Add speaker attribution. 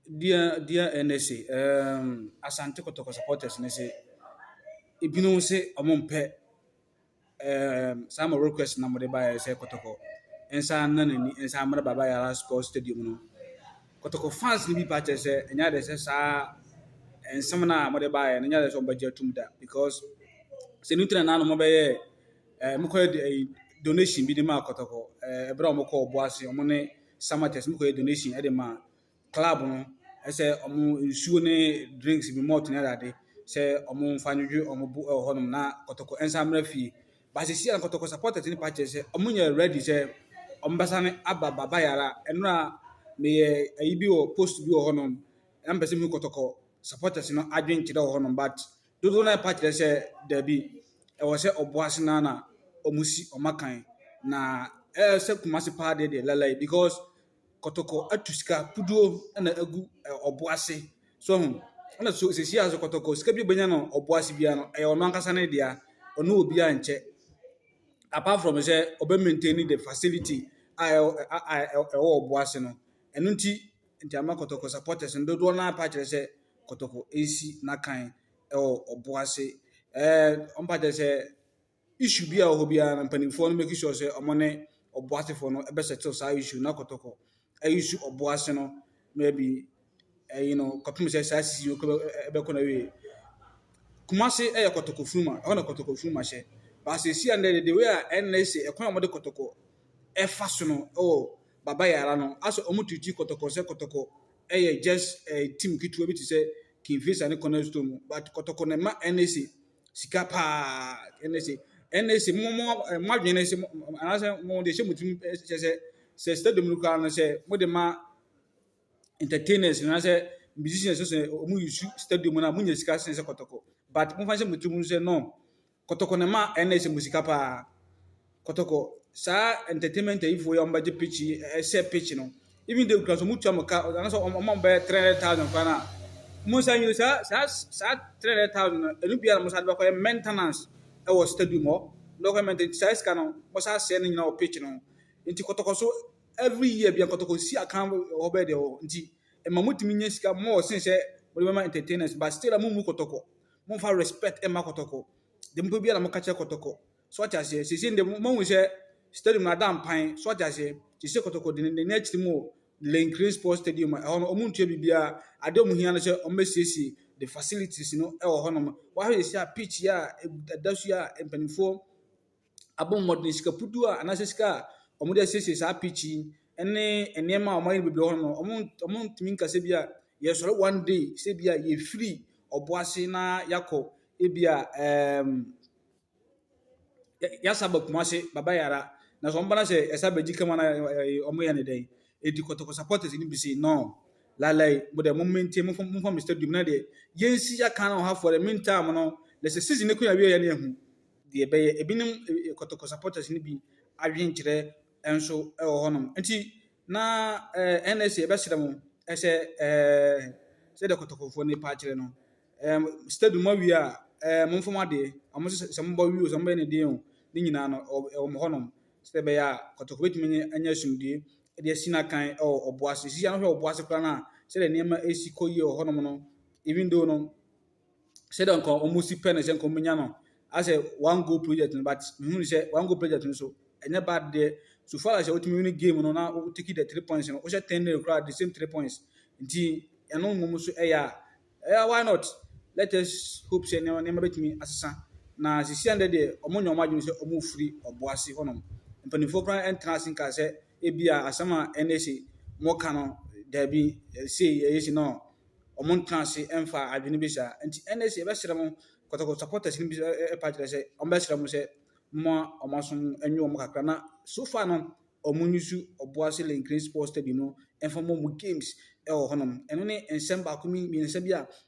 Speaker 1: Dear dear NSA, um, Asante Kotoko supporters no se, ebinom se ɔmo mpɛ um, saa mo request na mo de baeɛ sɛ Kotoko nsa na n'ani nsa mmra Baba Yara Sports Stadium no. Kotoko fans no bi pa kyerɛ sɛ ɛnyɛ ade sɛ saa nsɛm no a mo de baeɛ no ɛnyɛ ade sɛ ɔmo bɛgye atum da because sɛ ɛno nti na na ɔmo bɛyɛɛ eh, mokɔyɛ eh, donation bi de maa kɔtɔkɔ eh, ɛberɛ a wɔkɔ ɔbo ase wɔn ne samates mokɔyɛ donation de maa club no ɛsɛ wɔn nsuo ne drinks bi malt ne adade sɛ wɔn mfa nwedwe wɔn bo ɛwɔ hɔnom na kɔtɔkɔ nsa mmerɛ fie baasisi a kɔtɔkɔ supporters ne pa kyerɛ sɛ wɔn nyɛ ready sɛ wɔn bɛsa ne aba baba yara ɛno a meyɛ ayi bi wɔ post bi wɔ hɔnom na mpɛ sɛ mu kɔtɔkɔ supporters no adwenkyerɛ wɔ hɔnom but Dodow no ara pa kyerɛ sɛ dabi, ɛwɔ sɛ ɔboa ase no ara na wɔsi wɔn akan. Na ɛyɛ sɛ Kumasi paa deɛ deɛ lalai because kɔtɔkɔ atu sika kuduo na agu ɔboa ase. So ho, ɛna so sisi a so kɔtɔkɔ sika bi obenya no ɔboa ase biara no, ɛyɛ ɔno ankasa ne dea. Ɔne obiara nkyɛ. Apart from sɛ ɔbɛ maintain the facility a ɛwɔ ɔboa ase no. Ɛno nti Nti ama Kɔtɔkɔ supporters no dodoɔ no ara pa kyerɛ sɛ Kɔtɔkɔ resi n'akan wɔ ɔbo ase. Ɛɛ wɔn pa kyerɛ sɛ issue bi a wɔ hɔ biara no mpanimfoɔ no make sure sɛ wɔn ne ɔbo asefoɔ no bɛ settle saa issue na Kɔtɔkɔ ɛyi su ɔbo ase no maybe ɛyi no kɔpem sɛ saa sisi yi ɛbɛkɔ na wie. Kumase yɛ Kɔtɔkɔ funuma ɛhɔ na Kɔtɔkɔ funuma hyɛ. Baasɛ esi a ndɛ de de wei a ɛnna ese ɛkwan a wɔde Kɔtɔkɔ ɛfa so no ɛwɔ. baba yɛ ara no asɛ ɔmo treati kɔtɔkɔ sɛ kɔtɔkɔ ɛyɛ just ɛɛ team ketewa bi te sɛ Kingfisher ne Cornerstone no but kɔtɔkɔ na ɛma NSA sika paa NSA NSA mo mo mo adwene ne se mo anasɛ mo de hyɛ mo tirim kyɛ sɛ sɛ stadium no koraa no sɛ mo de ma entertainers na sɛ musicians sɛ ɔmo yi su stadium na mo nya sika sɛ sɛ kɔtɔkɔ but mo fa hyɛ mo tirim sɛ no. Kɔtɔkɔ na ɛma ɛnna yi sɛ mo sika paa. Kɔtɔkɔ, saa entertainment ayifoɔ yi a wɔbɛgye pitch yi, ɛhyɛ pitch no, even though kura so wɔtua mo ka, anaasɛ wɔn a wɔn bɛyɛ three hundred thousand kora no a, wɔn nsa nyini saa saa saa three hundred thousand no, ɛno biara na wɔn san de bɛkɔyɛ maintenance wɔ stadium hɔ, de bɛkɔyɛ maintenance, nti saa sika no, wɔsan asɛe no nyinaa wɔ pitch no ho. Nti kɔtɔkɔ so, every year biara kɔtɔkɔ si akan wɔ hɔ bɛyɛ deɛ wɔ hɔ. Nti ɛma motumi nya sika more sen sɛ mode bɛma entertainers, but still a mommu kɔtɔkɔ. Momfa respect mma kɔtɔkɔ. Deɛ mopɛ biara na moka kyerɛ kɔtɔkɔ. So ate aseɛ? Seesei deɛ moahu sɛ stadium no ada mpan. So ate aseɛ? Seesei kɔtɔkɔ de n'ani akyiri mu wɔ Lane Green Sports Stadium a ɛhɔ no wɔntua biribiara. Adeɛ a wɔhia no sɛ wɔbɛsiesie the facilities no wɔ hɔnom. Woahwɛ seesei a pitch yi a ɛda su yi a mpanimfoɔ abɔ mmɔden, sika puduo a anaasɛ sika a wɔde asiesie saa pitch yi ne nneɛma a wɔayɛ no bebree wɔ hɔnom no, wɔn wɔntumi nka sɛ ebia yɛsɔre one day sɛ ebia yɛfiri ɔbo ase na yɛakɔ ebia ɛɛm yɛasa aba Kumasi, Baba Yara. Na sɛ wɔba na sɛ ɛsɛ abɛgye kama na wɔyɛ no dɛn? Enti kɔtɔkɔ supporters no bi se no, lalai mo deɛ mo maintain momfa momfa mo stadium na deɛ yɛnsi yɛaka no ɔhafoɔ dɛ meantime no na sɛ season no kɔ yɛ awieɛ no yɛhu deɛ ɛbɛyɛ. Ebinom eh, kɔtɔkɔ supporters no bi adwenkyerɛ nso wɔ hɔnom. Nti na eh, NSA ɛbɛsrɛ mo ɛsɛ eh, sɛdeɛ kɔtɔkɔfoɔ no pa akyerɛ no. Eh, study mu awie a eh, momfa mo adeɛ. Wɔn sɛ sɛ mobɔ wi o, sɛ mobɛyɛ ne deɛ o, ne nyinaa no ɛwɔ ɛwɔ mo hɔnom. Sɛdeɛ ɛbɛyɛ a kɔtɔkɔ bɛtumi anya anya asomdue de asi n'akan wɔ ɔbo ase. Sisi ano hwɛ ɔbo ase koraa no a, sɛdeɛ nneɛma ɛsi kɔ yie wɔ hɔnom no, even though no, sɛdeɛ nka wɔn si pɛ no sɛ nka wɔn nya no asɛ one goal project no but mehu no sɛ one goal project no so ɛnyɛ bad deɛ so far as wotumi win game no na wo take the three points no wohyɛ ten nil koraa the same three points nti ɛno mmom so ɛyɛ a ɛyɛ why not let us hope sɛ nneɛma nneɛma betumi asesa na sisi ɛndɛ deɛ wɔn nyɛ wɔn adwene sɛ wɔn firi ɔbo ase hɔnom mpanimfoɔ koraa ɛntena ase nka sɛ ebia asɛm a ɛne se moka no daabi sei ɛyɛ sei no ɔmo ntena ase ɛmfa adwene bi saa nti ɛne se yɛbɛsrɛ mo kɔtɔkɔtɔ supporters no bi ɛpa kyerɛ sɛ ɔmo bɛsrɛ mo sɛ mo a ɔmo aso no ɛnye ɔmo kakra na so far no ɔmo nyusu ɔboase lenkren sports stadium no ɛmfa mo ɔmo games ɛwɔ hɔnom ɛno ne nsɛm baako mmiɛnsa bi a